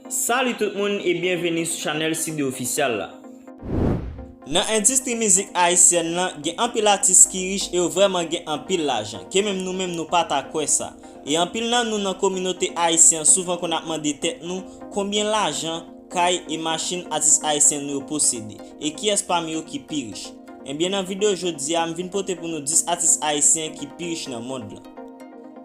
Salut tout moun e byenveni sou chanèl Sidde Official la. Nan endistri mizik ayisyèn lan, gen anpil atis ki rich e yo vrèman gen anpil lajan, ke menm nou menm nou pa ta kwè sa. E anpil nan nou nan kominote ayisyen an souvan konn ap mande tèt nou, konbyen lajan, Kay e machin atis ayisyen nou yo posede, e kiyès pami yo ki pi rich? Ebyen nan video jodi a m vin pote pou nou 10 atis ayisyen ki pi rich nan mond lan.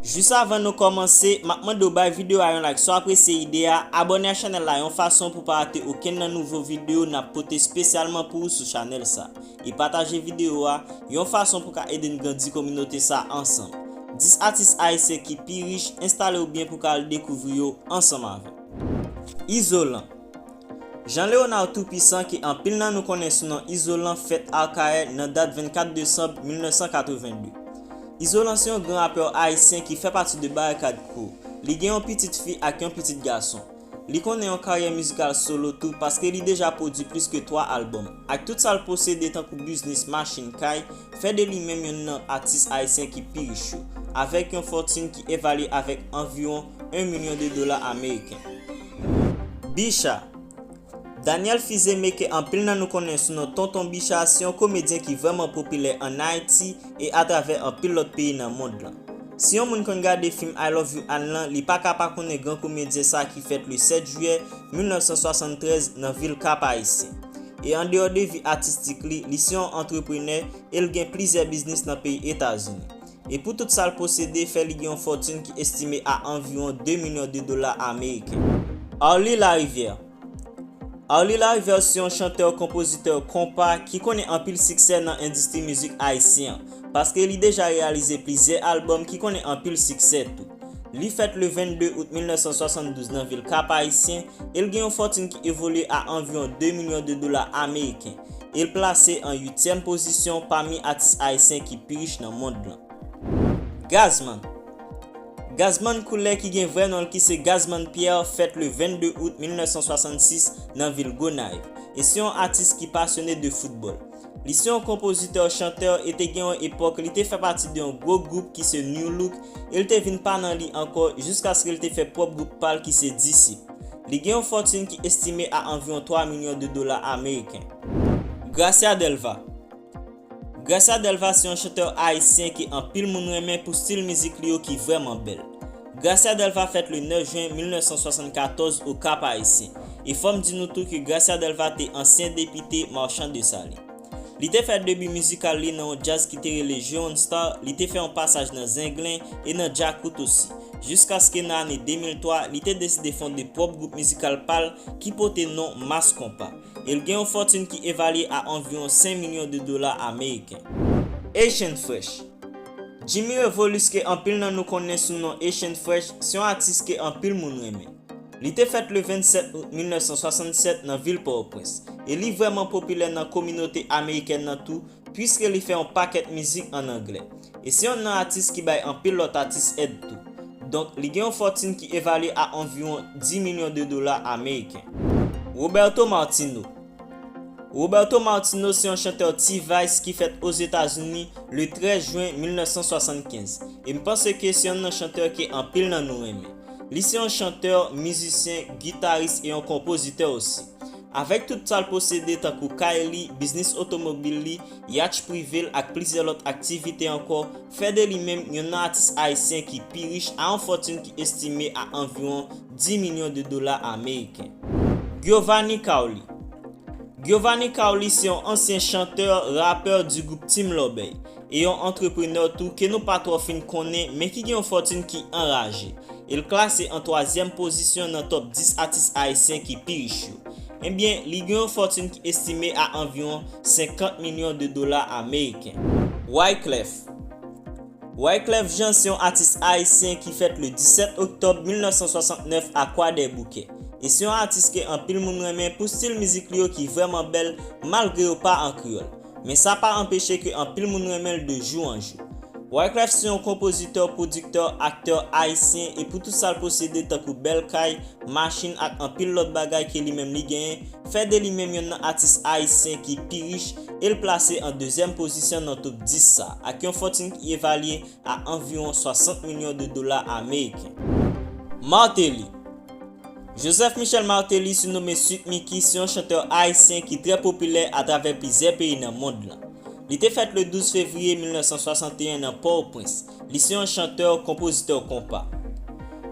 Jis avan nou kòmanse, map mande w bay video a yon like si w apresye ide a, abòne a chanèl la yon fason pou w pa rate okenn nan nouvo video nap pote spesyalman pou ou sou chanèl sa, e pataje video a, yon fason pou ka ede n grandi kominote sa ansanm. 10 atis ayisyen ki pi rich, enstale w byen pou ka al dekouvri yo ansanm avèm. Izolan Jean Léonard Tout-Puissant ke anpil nan nou konnen sou non Izolan fèt Akayè nan dat 24 desanm 1982. Izolan se yon gran rapè ayisyen ki fè pati de Barikad Crew. Li gen yon pitit fi ak yon pitit gason. Li konnen yon karyè mizikal solo tou paske li deja pwodui plis ke 3 albòm. Ak tout sa l posede tankou biznis, machin, kay, fè de li menm yonn nan atis ayisyen ki pi rich yo, avèk yon fòtin ki evalye avèk anviwon 1 milyon de dola ameriken. Bicha, Daniel Fils-Aimé ke anpil nan nou konnen sou non Tonton Bicha se yon komedyen ki vrèman popilè an Ayiti e atravè anpil lòt peyi nan mond lan. Si yon moun konn gade fim I Love You Anne lan li paka pa konnen gran komedyen sa ki fèt le 7 jiyè 1973 nan vil Kap Ayisyen. E andeyò de vi atistik li, li se yon antreprenè e l gen plizyè biznis nan peyi Etazini. e pou tout sa l posede fè li gen yon fòtin ki estime a anviwon 2 milyon de dola ameriken. Arly Larivière Arly Larivière se yon chantè-konpozitè konpa ki konnen anpil siksè nan endistri mizik ayisyen an, paske li deja reyalize plizyè albòm ki konnen anpil siksè tou. Li fèt le 22 out 1972 nan vil Kap-Ayisyen e l gen yon fòtin ki evolye a anviwon 2 milyon de dola ameriken e l plase an uityèm pozisyon pami atis ayisyen ki pi rich nan mond lan. Gazzman Gazzman Coulais ki gen vrè non l ki se Gazzman Pierre fèt le 22 out 1966 nan vil Gonaiv e se yon atis ki pasyone de foutbòl. Li se yon konpozitè, chantè e te gen yon epòk li te fè pati de yon gwo gwoup ki se Nu Look e l te vin pa nan li ankò jiskaske l te fè pwòp gwoup pa l ki se Disip. Li gen yon fòtin ki estime a anviwon 3 milyon de dola ameriken. Gracia Delva Gracia Delva se yon chantè ayisyen ke anpil moun renmen pou stil mizik li yo ki vrèman bèl. Gracia Delva fèt le 9 jen 1974 o Kap Ayisyen, e fòm di nou tou ke Gracia Delva te ansyen depite Marchand de Salé. Li te fè debi mizikal li nan yon djaz ki te rele Jeune Star, li te fè yon pasaj nan Zenglen e nan Djakout osi, jiskaske nan ane 2003 li te deside fonde pwòp gwoup mizikal pa l ki pote non Mass Konpa, e l gen yon fòtune ki evalye a anviwon 5 milyon de dola ameriken. Haitian Fresh. Jimmy Revolus ke anpil nan nou konnen sou non Haitian Fresh se yon atis ke anpil moun renmen. Li te fèt le 27 out 1967 nan vil Pòtoprens e li vrèman popilè nan kominote amerikèn nan tou puiske li fè yon pakèt mizik an anglè e se yon nan atis ki bay anpil lòt atis èd tou. Donk li gen yon fòtin ki evalye a anviwon 10 milyon de dola ameriken. Roberto Martino, Roberto Martino se yon chantè T-Vice ki fèt Ozetazini le 13 jwen 1975, e m panse ke se yonn nan chantè ke anpil nan nou renmen. Li se yon chantè, mizisyen, gitaris e yon konpozitè osi. Avèk tout sa l posede tankou kay li, biznis otomobil li, yatch prive l ak plizyè lòt aktivite ankò, fè de li menm yonn nan atis ayisyen ki pi rich a yon fòtun ki estime a anviwon 10 milyon de dola ameriken. Giovanni Cauli Giovanni Cauli se yon ansyen chantè, rapè di gwoup Team Lòbèy, e yon antreprenè tou ke nou pa twò fin konnen men ki gen yon fòtinn ki anraje, e l klase an twazyèm pozisyon nan top 10 atis ayisyen ki pi rich yo. Ebyen, li gen yon fòtinn ki estime a anviwon 50 milyon de dola ameriken. Wyclef Wyclef Jean se yon atis ayisyen ki fèt le 17 oktòb 1969 a Kwadèboukè. E se yon atis ke anpil moun renmen pou stil mizik li yo ki vrèman bèl malgre yo pa an kreyòl. Men sa pa anpeche ke anpil moun renmen l de jou an jou. Wyclef se yon konpozitè, pwodiktè, aktè ayisyen e pou tout sa l posede tankou bèl kay, machin ak anpil lòt bagay ke li menm li genyen, fè de li menm yonn nan atis ayisyen ki pi rich e l plase an dezyèm pozisyon nan top 10 sa ak yon fòtin ki evalye a anviwon 60 milyon de dola ameriken. Martelly Joseph Michel Martelly sinome Sweet Micky se yon chantè ayisyen ki trè popilè atravè plizyè peyi nan mond lan. Li te fèt le 12 fevriye 1961 nan Pòoprens. Li se yon chantè, konpozitè konpa.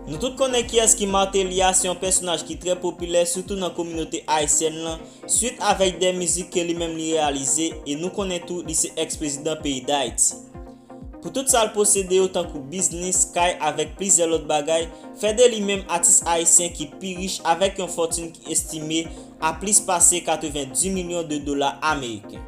Nou tout konnen kiyès ki Martelly a, se yon pèsonaj ki trè popilè sitou nan kominote ayisyèn lan, Swit avèk 2 mizik ke li menm li reyalize e nou konnen tou li se ex prezidan peyi Dayiti. Pou tout sa l posede yo tankou biznis, kay avèk plizyè lòt bagay, fè de li menm atis ayisyen ki pi rich avèk yon fòtinn ki estime a plis pase 90 milyon de dola ameriken.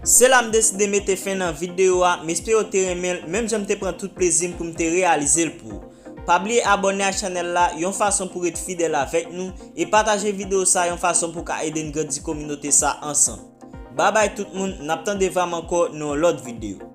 Se la m deside mete fen nan videyo a, m espere w te renmen l menm jan m te pran tout plezi m pou m te reyalize l pou ou. Pa bliye abòne ak chanèl la yon fason pou ret fidèl avèk nou e pataje video sa yon fason pou ka ede n grandi kominote sa ansanm. Babay tout moun nap tande vam ankò nan yon lòt video.